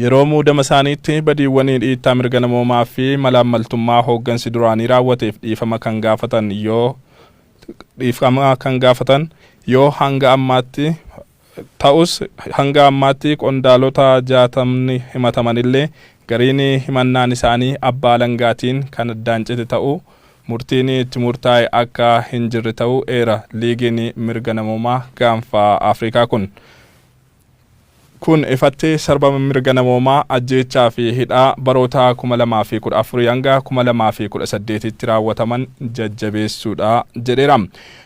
Yeroo muudama isaaniitti badiiwwanii dhiittaa mirga namoomaa fi malaammaltummaa hooggansi duraanii raawwateef dhiifama kan gaafatan yoo dhiifama kan gaafatan yoo hanga ammaatti ta'us hanga ammaatti qondaalota jaatamni himatamanillee gariin himannaan isaanii abbaa alangaatiin kan addaan cite ta'uu murtiin itti murtaa'e akka hin jirre ta'uu eera liigiin mirga namoomaa gaanfa Afrikaa kun. Kun ifatti sarbama mirga namoomaa, ajjeechaa fi hidhaa baroota 2014 hanga 2018tti raawwataman jajjabeessuudha jedheera.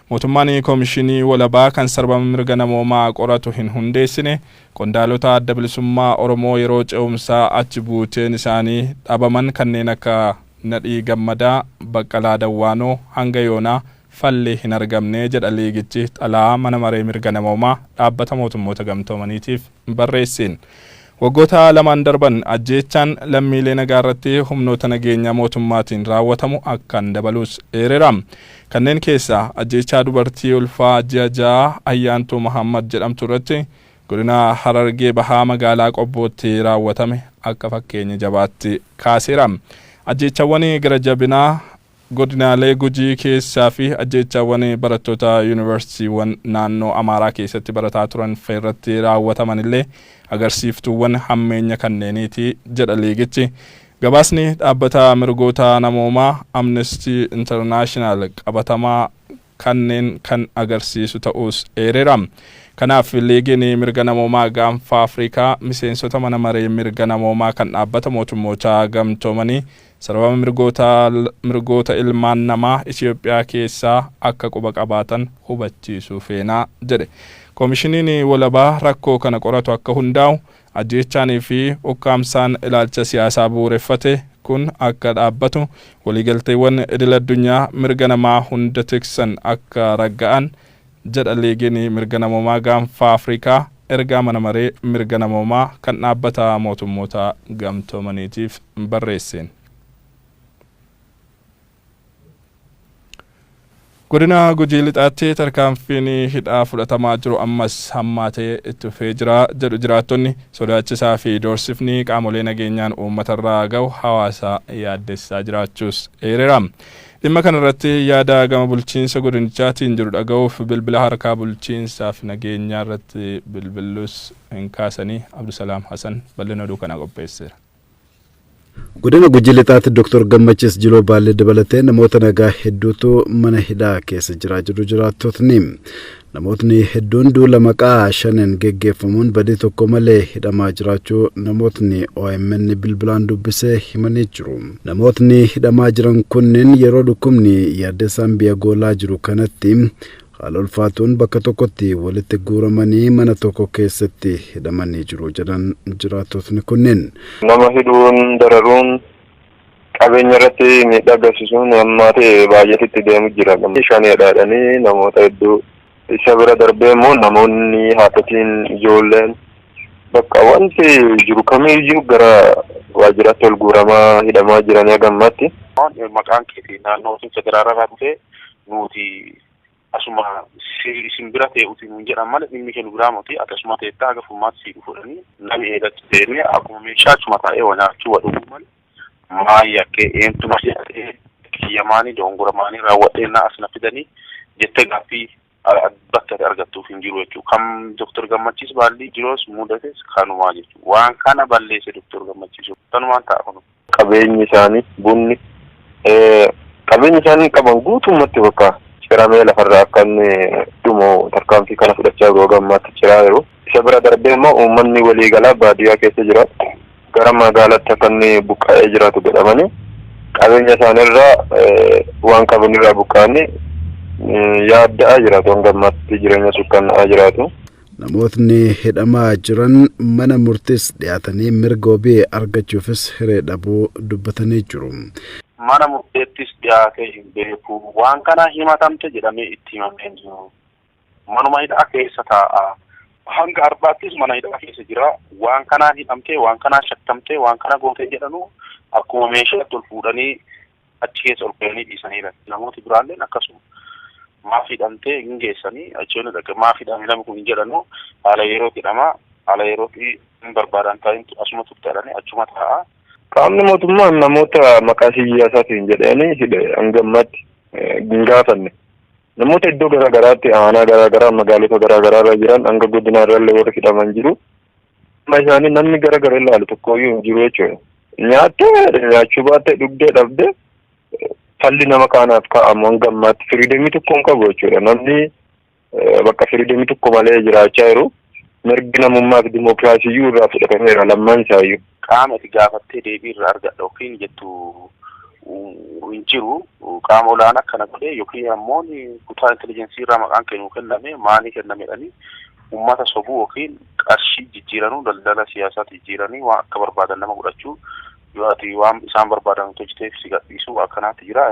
Mootummaan Komishinii walabaa kan sarbama mirga namoomaa qoratu hin hundeessine, qondaalota Adda Bilisummaa Oromoo yeroo ce'umsaa achi buuteen isaanii dhabaman kanneen akka Nadhii Gammadaa, Baqqalaa Dawwaanoo hanga yoonaa falli hin argamne jedha liigichi xalayaa Mana Maree Mirga Namoomaa Dhaabbata Mootummoota Gamtoomaniitiif barreesseen. Waggoota lamaan darban ajjeechaan lammiilee nagaa irratti humnoota nageenyaa mootummaatiin raawwatamu akkaan dabaluus eereera. Kanneen keessaa ajjeechaa dubartii ulfaa ji'a ja'a Ayyaantuu Mahaammad jedhamtu irratti Godina Harargee Bahaa magaalaa Qobbootti raawwatame akka fakkeenya jabaatti kaaseera. Ajjeechawwan gara jabinaa Godinaalee Gujii keessaa fi ajjeechaawwan barattoota Yuunivarsiitiiwwan naannoo Amaaraa keessatti barataa turan fa irratti raawwataman illee agarsiiftuuwwan hammeenya kanneeniiti jedha liigichi. Gabaasni dhaabbata mirgoota namoomaa Amnestii Internaashinaal qabatamaa kanneen kan agarsiisu ta'uus eereera. Kanaaf Liigiin Mirga Namoomaa Gaanfa Afrikaa miseensota Mana Maree Mirga Namoomaa kan Dhaabbata Mootummoota Gamtoomanii sarbama mirgoota mirgoota ilmaan namaa Itiyoophiyaa keessaa akka quba qabaatan hubachiisuu feena jedhe. Komishiniin walabaa rakkoo kana qoratu akka hundaa'u Ajjeechaanii fi ukkaamsaan ilaalcha siyaasaa bu'uureffate kun akka dhaabbatu, waliigalteewwan idil-addunyaa mirga namaa hunda tiksan akka ragga'an jedha Liigiin Mirga Namoomaa Gaanfa Afrikaa ergaa Mana Maree Mirga Namoomaa kan Dhaabbata Mootummoota Gamtoomaniitiif barreesseen. Godina Gujii Lixaatti tarkaanfiin hidhaa fudhatamaa jiru ammas hammaatee itti fufee jira jedhu jiraattonni. Sodaachisaa fi doorsifni qaamolee nageenyaan uummatarraa gahu hawaasa yaaddessaa jiraachuus eereera. Dhimma kanarratti yaada gama bulchiinsa godinichaatiin jiru dhaga'uuf bilbila harkaa bulchiinsaa fi nageenyaarratti bilbillus hin kaasanii Abdusalaam Hasan bal'ina oduu kanaa qopheesseera. Godina Gujii Lixaatti Dr. Gammachiis Jiloo Baallee dabalatee namoota nagaa hedduutu mana hidhaa keessa jiraa jedhu jiraattotni. Namootni hedduun duula maqaa shanen geggeeffamuun badii tokko malee hidhamaa jiraachuu namootni OMN bilbilaan dubbisee himanii jiru. Namootni hidhamaa jiran kunneen yeroo dhukkubni yaaddessaan biyya goolaa jiru kanatti Haala ulfaatuun bakka tokkotti walitti guuramanii mana tokko keessatti hidhamanii jiru jedhan jiraattotni kunneen. Nama hidhuun, dararuun, qabeenya irratti miidhaa geessisuun hammaatee baay'atee itti deemu jira. Shaneedha jedhanii namoota hedduu isa bira darbee immoo namoonni haadhotiin ijoolleen bakka wanti jiru kamiyyuu gara waajjiraatti ol guuramaa hidhamaa jiranii haga ammaatti. Maqaan keetii naannoo Federaalaa irraa dhufee nuuti asuma si- isin bira tee'uti nuun jedhan malee dhimmi kee nu biraa moti ati asuma teettaa haga furmaata sii dhufudhanii nami eegatti deemee akkuma meeshaa achuma taa'ee wa nyaachuu wa dhuguu malee maa yakkee eentu na hidhatee kiyya maanii doongora maanii raawwadheennaa as na fidanii jettee gaaffii a- a- bakka ati argattuuf hin jiru jechuu kan doktor gammachiis baallii jiroos mudates kanumaa jechuu waan kana balleesse doktor gammachiisu kanumaan ta'a kunu qabeenyi isaanii bunni qabeenyi isaanii qaban guutummatti bakka ciramee lafarraa akka inni dhumu tarkaanfii kana fudhachaa yeroo gammaatti ciraa jiru. Isa bira darbee immoo uummanni waliigalaa baadiyyaa keessa jiraatu gara magaalaatti akka inni buqqa'ee jiraatu godhamanii qabeenya isaaniirraa waan qabanirraa buqqa'anii yaadda'aa jiraatu hanga ammaatti jireenya sukkanna'aa jiraatu. Namootni hidhamaa jiran mana murtiis dhiyaatanii mirga wabii argachuufis hiree dhabuu dubbatanii jiru. Mana murteettis dhiyaatee hin beeku. Waan kana himatamte jedhamee itti himamee hin jiru. Manuma hidhaa keessa taa'a. Hanga ar'aattis mana hidhaa keessa jira. Waan kanaan hidhamtee, waan kanaan shakkamtee, waan kana gootee jedhanuu akkuma meeshaatti ol fuudhanii achi keessa ol ka'anii dhiisaniiran. Namooti biraalleen akkasuma. Maaf hidhamtee hin geessanii achi yoona dhaqe maaf hidhame namni kun hin jedhanu haala yerootti hidhama haala yerootti hin barbaadan taa'in asuma turte jedhanii achuma taa'a. Qaamni mootummaa namoota maqaa siyaasaatiin jedhanii hidhe hanga ammaatti hin gaafanne. Namoota iddoo garaa garaatti aanaa garaa garaa magaalota garaa garaa irra jiran hanga godinaa irrallee warri hidhaman jiru. Amma isaanii namni gara gara ilaalu tokkooyyuu hin jiru jechuudha. Nyaattee nyaachuu baattee dhugdee dhabdee falli nama kaanaaf kaa'amu hanga ammaatti firiidamii tokko hin qabu jechuudha. Namni eh, bakka firiidamii tokko malee jiraachaa jiru mirgi namummaa fi dimookiraasiyyuu irraa fudhatameera lammaan isaayyuu. Qaama ati gaafattee deebii irraa argadha yookiin jettu hin jiru. Qaama olaanaa kana godhee yookiin ammoo kutaa intelijeensii irraa maqaan kee nuu kenname maanii kenname jedhanii uummata sobuu yookiin qarshii jijjiiranuu daldala siyaasaatti jijjiiranii waan akka barbaadan nama godhachuu yoo ati waan isaan barbaadan hojjeteef si gadhiisuu akkanaatti jira.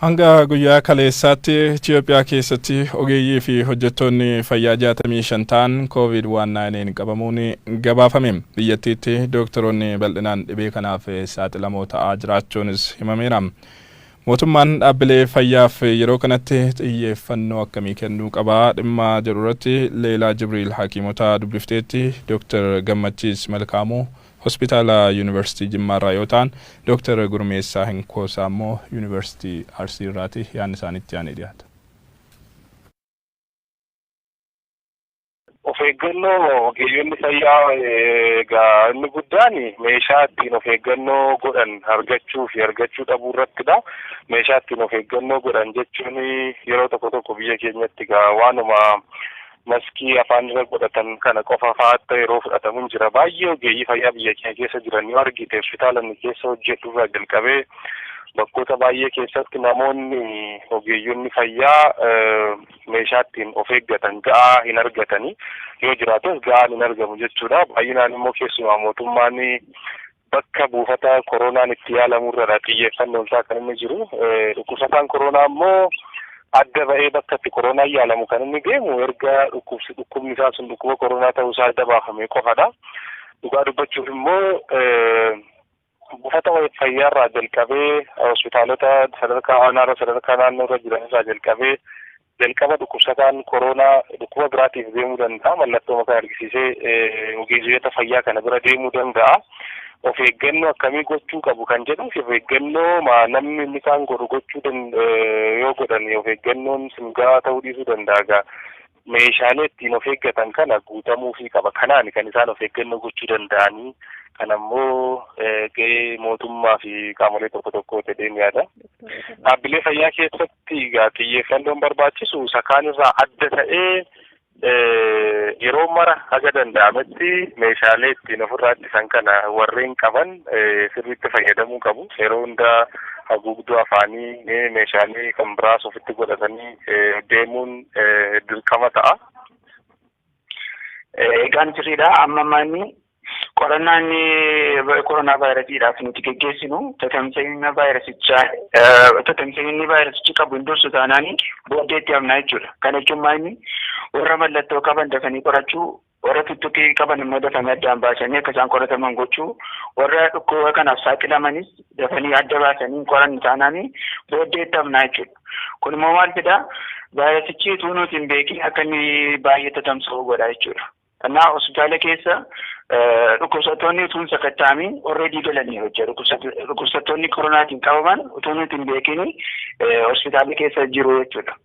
Hanga guyyaa kaleessaatti Itiyoophiyaa keessatti ogeeyyii fi hojjettoonni fayyaa 65 ta'an COVID-19 qabamuun gabaafame. Biyyattiitti dooktaroonni bal'inaan dhibee kanaaf saaxilamoo ta'aa jiraachuunis himameera. Mootummaan dhaabbilee fayyaaf yeroo kanatti xiyyeeffannoo akkamii kennuu qaba dhimma jedhu irratti Leelaa Jibriil hakiimota dubbifteetti Dooktar Gammachiis Malkaamuu Hospitaala Yuunivarsiitii Jimmaarraa yoo ta'an, Dooktar Gurmeessaa Hinkoosaa immoo Yuunivarsiitii Arsiirraati. Yaanni isaanii itti aanee dhiyaata. Of eeggannoo ogeeyyonni fayyaa egaa inni guddaan meeshaa ittiin of eeggannoo godhan argachuu fi argachuu dhabuu irrattidha. Meeshaa ittiin of eeggannoo godhan jechuun yeroo tokko tokko biyya keenyatti egaa waanuma Maskii afaan irra godhatan kana qofa fa'aa akka yeroo fudhatamu hin jira. Baay'ee ogeeyyii fayyaa biyya keenya keessa jiran yoo argite hospitaala inni keessa hojjedhu irraa jalqabee bakkoota baay'ee keessatti namoonni ogeeyyonni fayyaa meeshaa ittiin of eeggatan ga'aa hin argatani. Yoo jiraates ga'aan hin argamu jechuudha. Baay'inaan immoo keessumaa mootummaan Bakka buufata koroonaan itti yaalamu irradha xiyyeeffannoon isaa kan inni jiru. Dhukkubsataan koroonaa immoo adda ba'ee bakka itti koroonaan yaalamu kan inni deemu erga dhukkubni isaa sun dhukkuba koroonaa ta'uu isaa adda baafame qofadha. Dhugaa dubbachuuf immoo buufata fayyaa irraa jalqabee hospitaalota sadarkaa aanaarra sadarkaa naannoorra jiran irraa jalqabee Jalqaba dhukkubsataan koroonaa dhukkuba biraatiif deemuu danda'a. Mallattoo mataa argisiisee ogeezoyata fayyaa kana bira deemuu danda'a. Of eeggannoo akkamii gochuu qabu kan jedhuuf of eeggannoo ma namni inni kaan godhu gochuu dan- eh, yoo godhan of eeggannoon sun gahaa ta'uu dhiisuu danda'a gaa. Meeshaalee ittiin of eeggatan kana guutamuufii qaba. Kanaan kan isaan of eeggannoo gochuu danda'anii kan ammoo eh, gahee mootummaa fi qaamolee tokko tokkoo jedheen yaada. Dhaabbilee fayyaa keessatti irratti egaa xiyyeeffannoon barbaachisu isa kaan irraa adda ta'ee yeroo mara haga danda'ametti meeshaalee ittiin ofirraa ittisan kana warreen qaban sirriitti fayyadamuu qabu. Yeroo hundaa haguugduu afaanii meeshaalee kan biraas ofitti godhatanii deemuun dirqama ta'a. Egaan sirriidha. Amma manni qorannaa inni koronaa vaayirasiidhaaf nuti geggeessinu tatamsa'ina vaayirasichaa tatamsa'inni vaayirasichi qabu hin dursu taanaan booddeetti hafna jechuudha. Kana jechuun maayini warra mallattoo qaban dafanii qorachuu warra tuttuqii qaban immoo dafanii addaan baasanii akka isaan qorataman gochuu warra dhukkuba kanaaf saaxilamanis dafanii adda baasanii hin qoranne taanaan booddeetti hafna jechuudha. Kun immoo maal fidaa? Vaayirasichi utuu nuti hin beekin akka inni baay'ee tatamsa'u godha jechuudha. Kanaaf hospitaala keessa dhukkubsattoonni utuu hin sakatta'amin already galanii hojja. Dhukkubsattoonni koronaatiin qabaman utuu nuti hin beekin hospitaala keessa jiru jechuudha.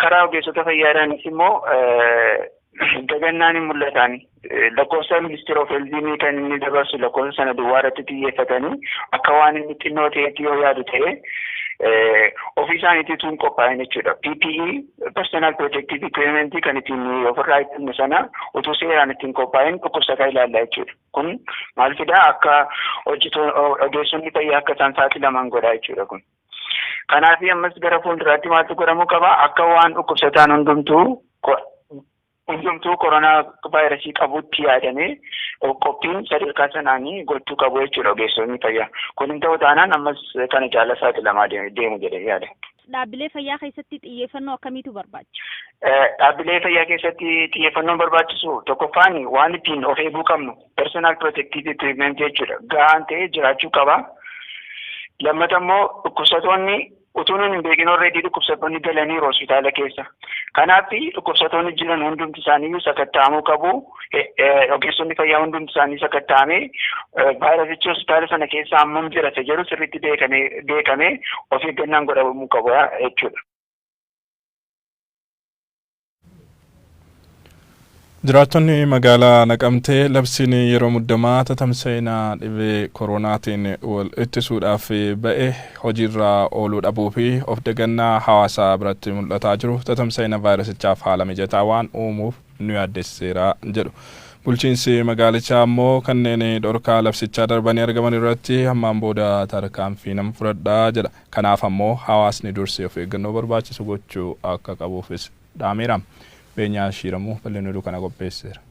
Karaa ogeessota fayyaadhaanis immoo Dagannaan hin mul'ataan. Lakkoofsa ministeera of eldiinii kan inni dabarsu lakkoofsa sana duwwaa irratti xiyyeeffatanii akka waan inni xinnoo ta'etti yoo yaadu ta'e ofii isaaniitii tun qophaa'in jechuudha. PPE personal protective equipment kan ittiin ofirraa ittiin sana utuu seeraan ittiin qophaa'in dhukkubsataa ilaalla jechuudha. Kun maal fidaa akka ogeessonni fayyaa akka isaan saaxilaman godhaa jechuudha kun. Kanaaf ammas gara fuulduraatti maaltu godhamuu qaba? Akka waan dhukkubsataan hundumtuu hundumtuu koronaa vaayirasii qabutti yaadamee qophiin sadarkaa sanaan gochuu qabu jechuudha ogeessonni fayyaa. Kun hin ta'u taanaan ammas kana caala saaxilamaa deemu jedhee yaada. Dhaabbilee fayyaa keessatti xiyyeeffannoo akkamiitu barbaachisa? Dhaabbilee fayyaa keessatti xiyyeeffannoon barbaachisu tokkoffaan waan ittiin of eeguu qabnu personal protective equipment jechuudha gahaan ta'ee jiraachuu qaba. Lammata immoo dhukkubsatoonni utuu nuun hin beekin already dhukkubsatoonni galaniiru hospitaala keessa. Kanaaf dhukkubsatoonni jiran hundumti isaaniiyyuu sakatta'amuu qabu. Ogeessonni fayyaa hundumti isaanii sakatta'amee vaayirasichi hospitaala sana keessa hammam jira isa jedhu sirriitti beekamee of eeggannaan godhamuu qaba jechuudha. Jiraattonni magaalaa Naqamtee labsiin yeroo muddamaa tatamsa'ina dhibee koroonaatiin wal ittisuudhaaf ba'e hojiirra ooluu dhabuu fi of dagannaa hawaasaa biratti mul'ataa jiru tatamsa'ina vaayirasichaaf haala mijataa waan uumuuf nu yaaddessiseera jedhu. Bulchiinsi magaalichaa ammoo kanneen dhorkaa labsichaa darbanii argaman irratti ammaan booda tarkaanfii nan fudhadha jedha. Kanaaf ammoo hawaasni dursee of eeggannoo barbaachisu gochuu akka qabuufis dhaameera. Beenyaa Shiiramuu bal'inni oduu kana qopheesseera.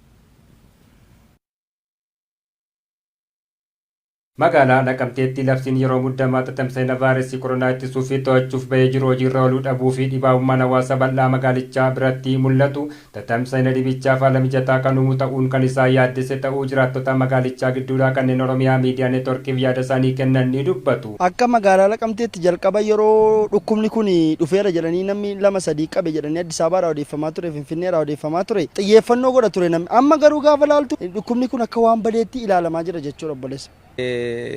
Magaalaa Naqamteetti labsiin yeroo muddamaa tatamsa'ina vaayrasii koronaa ittisuufi to'achuuf ba'ee jiru hojiirra ooluu dhabuufi dhibaa'ummaan hawaasa bal'aa magaalichaa biratti mul'atu Tatamsa'ina dhibichaaf haala mijataa kan uumu ta'uun kan isaan yaaddesse ta'uu jiraattota magaalichaa gidduudhaa kanneen Oromiyaa Miidiyaa Networkiif yaadasaanii kennan ni dubbatu. Akka magaalaa Naqamteetti jalqaba yeroo dhukkubni kun dhufeera jedhanii namni lama sadii qabe jedhanii Addis Ababaarraa odeeffamaa ture, Finfinneerraa odeeffamaa ture, xiyyeeffannoo godha ture namni. Amma garuu gaafa ilaaltu dhukkubni kun akka waan badeetti ilaalamaa jira jechuudha obboleessa.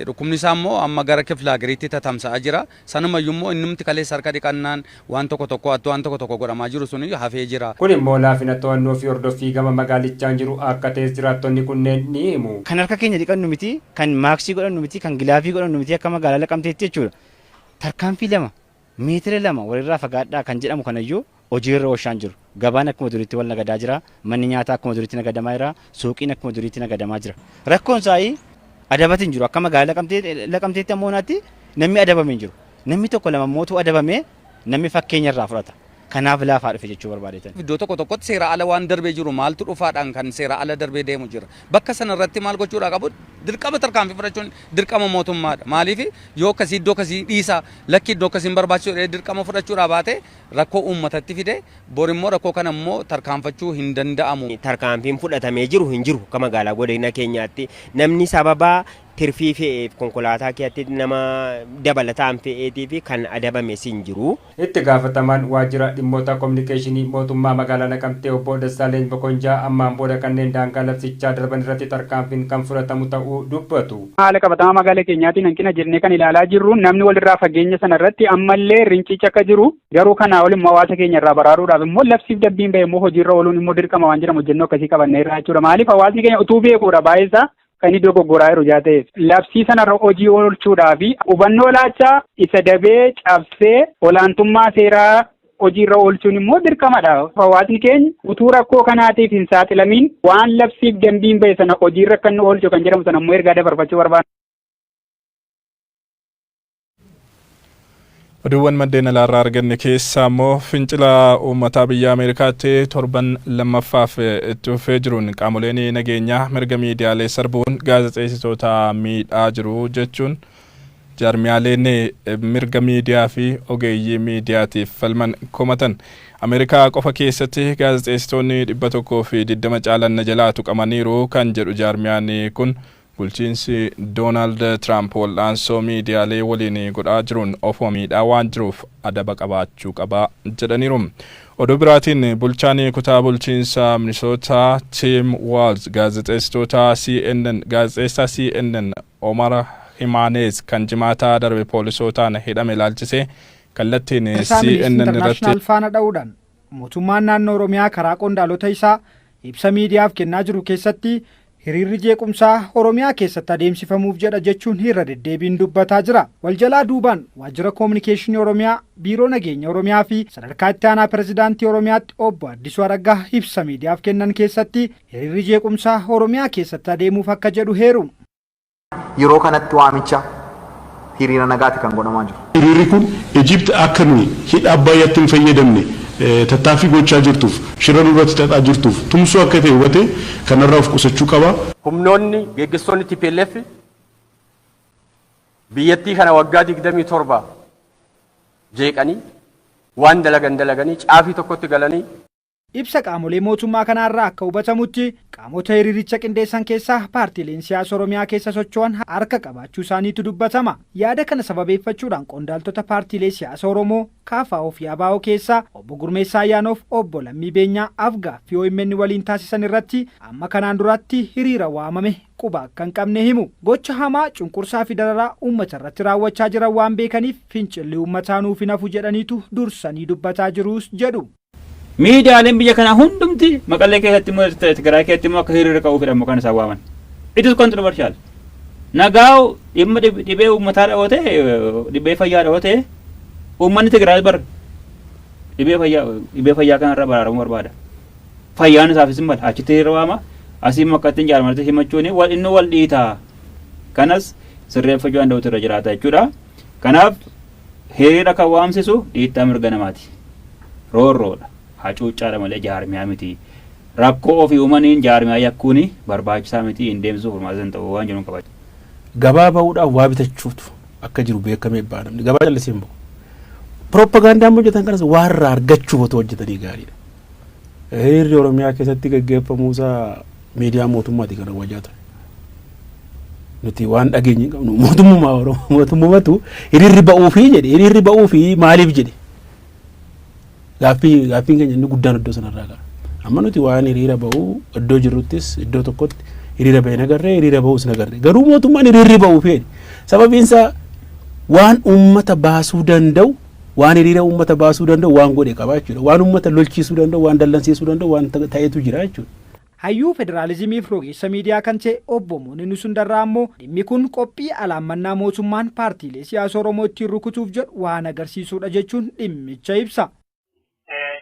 Dhukkubni isaa immoo amma gara kifla hagariitti tatamsa'aa jira. Sanumayyuu immoo innumti kaleessa harka dhiqannaan waan tokko tokkoo attuu waan tokko tokko godhamaa jiru suniyyuu hafee jira. Kun immoo laafina to'annoo fi hordoffii gama magaalichaan jiru akka ta'es jiraattonni kunneen ni himu. Kan harka keenya dhiqannu miti, kan maaksii godhannu miti, kan gilaavii godhannu miti akka magaalaa Naqamteetti jechuudha. Tarkaanfii lama Miitira lama walirraa fagaadhaa kan jedhamu kanayyuu hojiirra oolchaan jiru. Gabaan akkuma duriitti wal nagadaa jira. Manni nyaataa akkuma duriitti nagadamaa jira. Suuqiin akkuma duriitti nagadamaa jira. Rakkoon isaa adabati hin jiru. Akka magaalaa Naqamteetti amma yoonaatti namni adabame hin jiru. Namni tokko lama immoo utuu adabamee namni fakkeenya irraa fudhata. Kanaaf laafaa dhufe jechuu barbaadeetan. Iddoo tokko tokkotti seeraa ala waan darbee jiru maaltu dhufaadhaan kan seeraa ala darbee deemu jira. Bakka sana irratti maal gochuudhaa qabu? Dirqama tarkaanfii fudhachuun dirqama mootummaadha. Maaliif yoo akkasii iddoo akkasii dhiisaa lakki iddoo akkasii hin barbaachisu jedhee dirqama fudhachuudhaa baate rakkoo uummatatti fide bor immoo rakkoo kana immoo tarkaanfachuu hin danda'amu. Tarkaanfiin fudhatamee jiru hin jiru akka magaalaa godina keenyaatti namni sababa tirfii fe'eef konkolaataa keetti nama dabalataan fe'eetii fi kan adabames hin jiru. Itti gaafatamaan waajjira dhimmoota kominikeeshinii mootummaa magaalaa Naqamtee obbo Dassaaleny Mokonjaa ammaan booda kanneen daangaa labsichaa darban irratti tarkaanfiin kan fudhatamu ta'uu dubbatu. Haala qabatamaa magaala keenyaatiin hanqina jennee kan ilaalaa jirru namni walirraa fageenya sana irratti ammallee rincichi akka jiru garuu kanaa ol immoo hawaasa keenya irraa baraaruudhaaf immoo labsiif dabbiin bahe immoo hojiirra ooluun immoo dirqama waan jedhamu hojjennoo akkasii qabannee irraa jechuudha. Maaliif hawaasni keenya utuu beekuudha baay'eesaa kan iddoo goggoraa jiru jaa ta'eef labsii sanarra hojii oolchuudhaa fi hubannoo laachaa isa dabee cabsee olaantummaa seeraa hojiirra oolchuun immoo dirqamadha. Hawaasni keenya utuu rakkoo kanaatiif hin saaxilamiin waan labsiif dambiin ba'e sana hojiirra akka inni oolchu kan jedhamu sana immoo ergaa dabarfachuu barbaada. Oduuwwan maddeen alaarraa arganne keessaa immoo fincila uummataa biyya Ameerikaatti torban lammaffaaf itti fufee jiruun qaamoleen nageenyaa mirga miidiyaalee sarbuun gaazexeessitoota miidhaa jiru jechuun jaarmiyaaleen mirga miidiyaa fi ogeeyyii miidiyaatiif falman komatan. Ameerikaa qofa keessatti gaazexeessitoonni dhibba tokkoo fi digdama caalan na jalaa tuqamaniiru kan jedhu jaarmiyaan kun Bulchiinsi Doonaald Tiraamp wal'aansoo miidiyaalee waliin godhaa jiruun ofuma miidhaa waan jiruuf adaba qabaachuu qaba jedhaniiru. Oduu biraatiin bulchaan kutaa bulchiinsa Minisootaa Tiim Waalz gaazexeessitoota CNN gaazexeessaa CNN Omar Himaaneez kan Jimaataa darbe poolisootaan hidhame ilaalchisee kallattiin Isaa CNN Milis irratti International faana dha'uudhaan mootummaan naannoo Oromiyaa karaa qondaalota isaa ibsa miidiyaaf kennaa jiru keessatti Hiriirri jeequmsaa Oromiyaa keessatti adeemsifamuuf jedha jechuun irra deddeebiin dubbataa jira. Wal jalaa duubaan Waajjira Koominikeeshinii Oromiyaa, Biiroo Nageenya Oromiyaa fi Sadarkaa Itti Aanaa Pirezidaantii Oromiyaatti Obbo Addisuu Araggaa ibsa miidiyaaf kennan keessatti hiriirri jeequmsaa Oromiyaa keessatti adeemuuf akka jedhu heeru. Yeroo kanatti waamicha hiriira nagaati kan godhamaa jiru. Hiriirri kun Egypt akka nuyi hidha Abbaayyaatti hin fayyadamne tattaaffii gochaa jirtuuf, shira nurratti xaxaa jirtuuf tumsuu akka ta'e hubatee kanarraa of qusachuu qaba. Humnoonni, geggesstoonni tplf biyyattii kana waggaa 27 jeeqanii waan dalagan dalaganii caafii tokkotti galanii Ibsa qaamolee mootummaa kanaa irraa akka hubatamutti, qaamota hiriiricha qindeessan keessaa paartiileen siyaasa Oromiyaa keessa socho'an harka qabaachuu isaaniitu dubbatama. Yaada kana sababeeffachuudhaan qondaaltota paartiilee siyaasa Oromoo, KFO fi abo keessaa Obbo Gurmeessaa Ayyaanoo fi Obbo Lammii Beenyaa af-gaaffii omn waliin taasisan irratti amma kanaan duraatti hiriira waamame quba akka hin qabne himu. Gocha hamaa, cunqursaa fi dararaa uummata irratti raawwachaa jiran waan beekaniif fincilli uummataa nuuf hin hafu jedhaniitu dursanii dubbataa jirus jedhu. Miidiyaaleen biyya kanaa hundumti Maqalee keessatti immoo Tigraay keessatti immoo akka hiriira ka'uu fedhan maqaan isaan waaman. It is controversial. Nagaaw dhimma dhibee uummataa dhawate dhibee fayyaa dhawate uummanni Tigraay bar dhibee fayyaa dhibee fayyaa kanarra baraaramuu barbaada. Fayyaan isaafis hin mala achitti hiriira waama asii immoo akka ittiin jaarmarti himachuun wal inni wal dhiitaa. Kanas sirreeffachuu danda'utu irra jiraata jechuudha. Kanaaf Hiriira kan waamsisu dhiittaa mirga namaati. Roorroodha. Hacuuccaadha malee jaarmiyaa miti. Rakkoo ofii uumaniin jaarmiyaa yakkuun barbaachisaa miti, hin deemsisu, furmaatas hin ta'u waan jedhun qaba. Gabaa ba'uudhaaf waa bitachuutu akka jiru beekamee ba'a namni. Gabaa callisee hin ba'u. Piroopagaandaa amma hojjetan kanas waa irraa argachuuf otoo hojjetanii gaariidha. Hiriirri Oromiyaa keessatti gaggeeffamuusaa miidiyaa mootummaati kan hawajaa ture. Nuti waan dhageenye hin qabnu mootummaa Oromoo mootummatu hiriirri ba'uufi jedhe hiriirri ba'uufi maaliif jedhe gaaffii gaaffiin keenya inni guddaan iddoo sanarraa kara. Amma nuti waan hiriira ba'uu iddoo jirruttis iddoo tokkotti hiriira ba'e nagarree hiriira ba'uus nagarree garuu mootummaan hiriirri ba'uufi jedhe sababiinsaa waan uummata baasuu danda'u Waan hiriira uummata baasuu danda'u waan godhe qaba jechuudha. Waan uummata lolchiisuu danda'u, waan dallansiisuu danda'u waan ta'etu jira jechuudha. Hayyuu Federaalizimiif rogeessa miidiyaa kan ta'e Obbo Mooninu Sundarraa ammoo dhimmi kun qophii alaammannaa mootummaan paartiilee siyaasa Oromoo ittiin rukutuuf jedhu waan agarsiisuudha jechuun dhimmicha ibsa.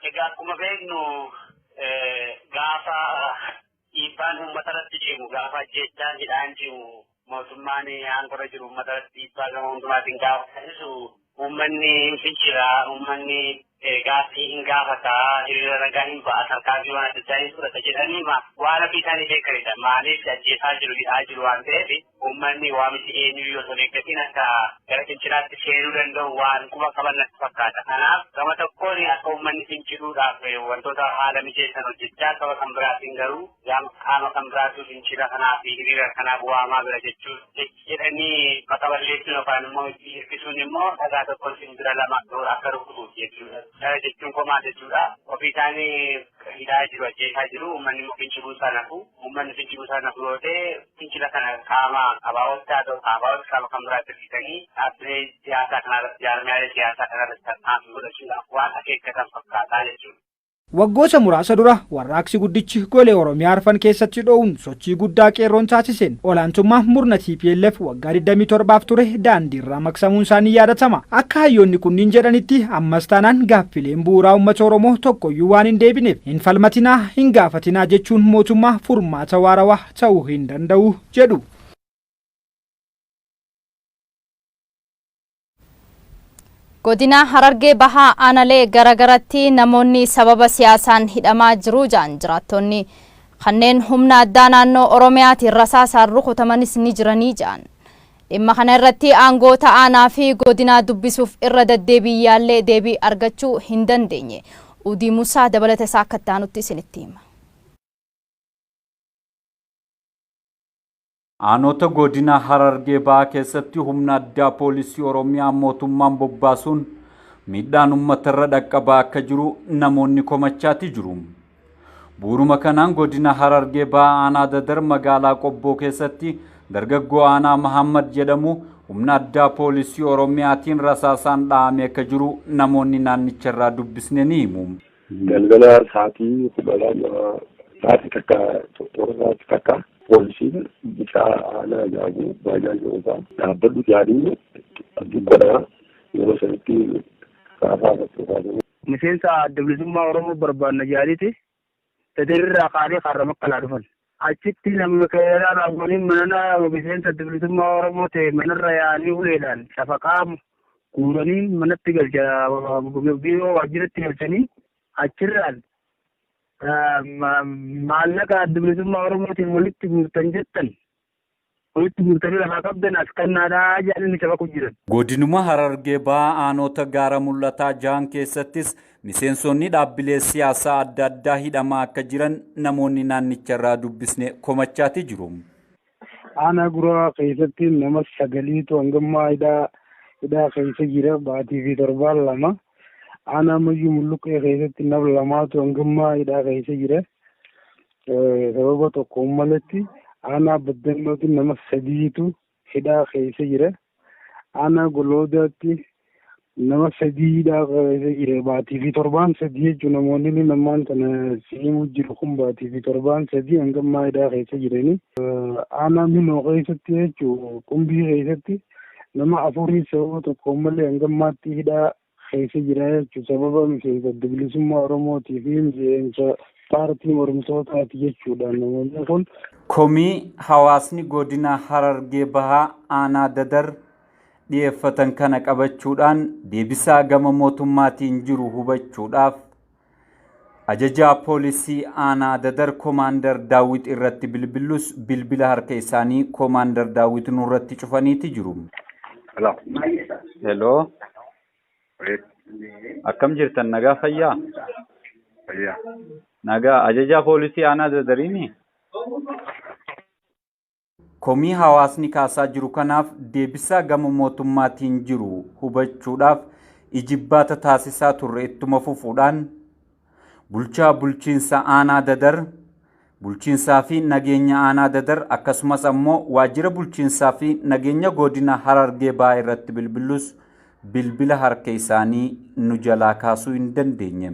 Egaa akkuma beeknu gaafa dhiibbaan uummata irratti cimu gaafa ajjeechaan hidhaan cimu mootummaan aangorra jiru uummata irratti dhiibbaa gama hundumaatiin gaafa taasisu uummanni hin fincila uummanni gaaffii hin gaafata hiriira ragaa hin ba'a tarkaanfii waan adda addaa hin fudhata jedhanii waan ofii isaanii beekanidha maaliif ajjeesaa jiru hidhaa jiru waan ta'eef uummanni waamichi eenyuyyuu osoo hin eeggatiin akka gara fincilaatti seenuu danda'u waan quba qaban natti fakkaata. Kanaaf gama tokkoon akka uummanni finciluudhaaf wantoota haala mijeessan hojjechaa gama kan biraatiin garuu qaama kan biraatu fincila kanaa fi hiriira kanaaf waamaa bira jechuun jechi jedhanii maqaa balleessuun yookaan immoo itti hirkisuun immoo dhagaa tokkoon simbira lama toora akka rukutuuf jechuudha. Kana jechuun komaa jechuudha. Ofii isaanii hidhaa jiru ajjeesaa jiru uummanni immoo finciluu isaa nafu uummanni finciluu isaa nafu yoo ta'e Fincila kana qaama ABO'tti haa ta'u ABO'tti qaama kan biraatti hirkisanii dhaabbilee siyaasaa kanarratti jaarmiyaalee siyaasaa kanarratti tarkaanfii godhachuudhaaf waan akeekkatan fakkaataa jechuudha. Waggoota muraasa dura warraaqsi guddichi golee Oromiyaa arfan keessatti dho'uun sochii guddaa qeerroon taasiseen olaantummaa murna tplf waggaa 27f ture daandiirraa maqsamuun isaa ni yaadatama. Akka hayyoonni kunniin jedhanitti ammas taanaan gaaffileen bu'uuraa uummata Oromoo tokkoyyuu waan hin deebineef hin falmatinaa, hin gaafatinaa jechuun mootummaa furmaata waarawaa ta'uu hin danda'u jedhu. Godina Harargee Bahaa Aanalee garagaratti namoonni sababa siyaasaan hidhamaa jiru ja'an jiraattonni kanneen humna addaa naannoo Oromiyaatiin rasaasaan rukutamanis ni jiranii ja'an. Dhimma kana irratti aangoota aanaa fi godinaa dubbisuuf irra daddeebii yaallee deebii argachuu hin dandeenye. Udii Musaa dabalata isaa akka itti aanutti isinitti hima. Aanoota Godina Harargee Bahaa keessatti humna addaa Poolisii Oromiyaa mootummaan bobbaasuun miidhaan ummatarra dhaqqabaa akka jiru namoonni komachaatii jiru. Bu'uruma kanaan Godina Harargee Bahaa Aanaa Dadar magaalaa Qobboo keessatti dargaggoo Aanaa Mahaammad jedhamu humna addaa Poolisii Oromiyaatiin rasaasaan dha'amee akka jiru namoonni naannicharraa dubbisne ni himu. Galgala sa'aatii kudha lama sa'aatii takka toora sa'aatii takka poolisiin bicaa aanaa jaabu baajaa jirudha. Dhaabbadhu jaanii dubbanaa yeroo sanitti raasaa irratti kaasanii. Miseensa adda bilisummaa Oromoo barbaanna jaaniiti. Dadar irraa kaanee kaarra makkalaa dhufan. Achitti namni keeraa raawwaniin manana miseensa adda bilisummaa Oromoo ta'e manarra yaa'anii uleedhaan cafaqaa guuranii manatti galcha biiroo waajjiratti galchanii achirraan maallaqa adda bilisummaa Oromootiin walitti guurtan jettan Walitti guurtanii lafaa qabdan as kannaadha jedhanii nu cabaqu jiran. Godinuma Harargee Bahaa Aanoota Gaara Mul'ataa jahan keessattis miseensonni dhaabbilee siyaasaa adda addaa hidhamaa akka jiran namoonni naannicharraa dubbisne komachaati jiru. Aanaa Gura'aa keessatti nama sagaliitu hanga ammaa hidhaa hidhaa keessa jira baatii fi torbaan lama. Aanaa Mayyuu Mulluqqee keessatti nama lamaatu hanga ammaa hidhaa keessa jira. Sababa tokko maletti aanaa baddannootti nama sadiitu hidhaa keessa jira. Aanaa goloodaatti nama sadii hidhaa keessa jira. Baatii fi torbaan sadii jechuun namoonni namaan tana siimuu jiru kun baatii fi torbaan sadii hanga ammaa hidhaa keessa jirani. Aanaa miloo keessatti jechuun qumbii keessatti nama afurii sababa tokko malee hanga ammaatti hidhaa keessa jira jechuun sababa miseensa Adda Bilisummaa Oromootii fi miseensa paartii mormitootaati jechuudhaan namoonni kun. Komii hawaasni godina Harargee Bahaa aanaa Dadar dhiyeeffatan kana qabachuudhaan deebisaa gama mootummaatiin jiru hubachuudhaaf Ajajaa poolisii aanaa Dadar Komaandar Daawwit irratti bilbillus bilbila harka isaanii Komaandar Daawwit nurratti cufaniiti jiru. Hello. Hello. Wait. Akkam jirtan nagaa fayyaa? Fayyaa. Nagaa ajajaa poolisii aanaa Dadariini? Komii hawaasni kaasaa jiru kanaaf deebisaa gama mootummaatiin jiru hubachuudhaaf ijibbaata taasisaa turre ittuma fufuudhaan bulchaa bulchiinsa aanaa Dadar, bulchiinsaa fi nageenya aanaa Dadar akkasumas ammoo waajjira bulchiinsaa fi nageenya goodina Harargee Bahaa irratti bilbillus bilbila harka isaanii nu jalaa kaasuu hin dandeenye.